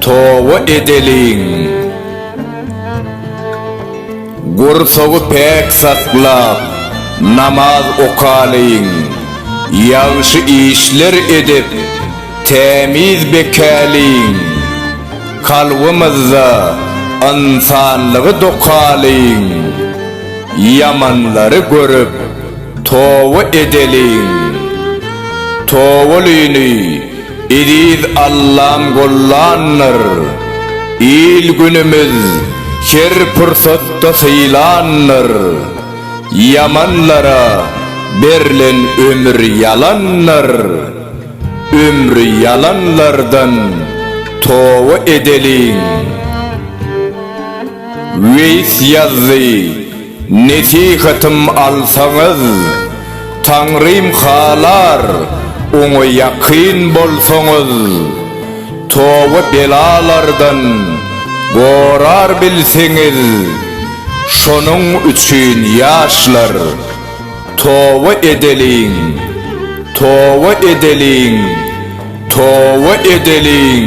Toba edeliň! Gursagy päk saklap, namaz okalyň! Ýagşy işler edip, tämiz bekäliň! Kalbymyzda ynsanlygy dokalyň! Ýamanlary görüp, toba edeliň! Tobalyny! Eziz Allam gollandyr, il-günümiz her pursatda sylandyr, Ýamanlara berlen ömür ýalandyr, Ömri ýalanlardan toba edeliň. Weýs ýazdy. Nesihatym alsaňyz, Taňrym halar, Oňa ýakyn bolsaňyz, Toba belalardan gorar bilseňiz, Şonuň üçin, ýaşlar, Toba edeliň, Toba edeliň, Toba edeliň!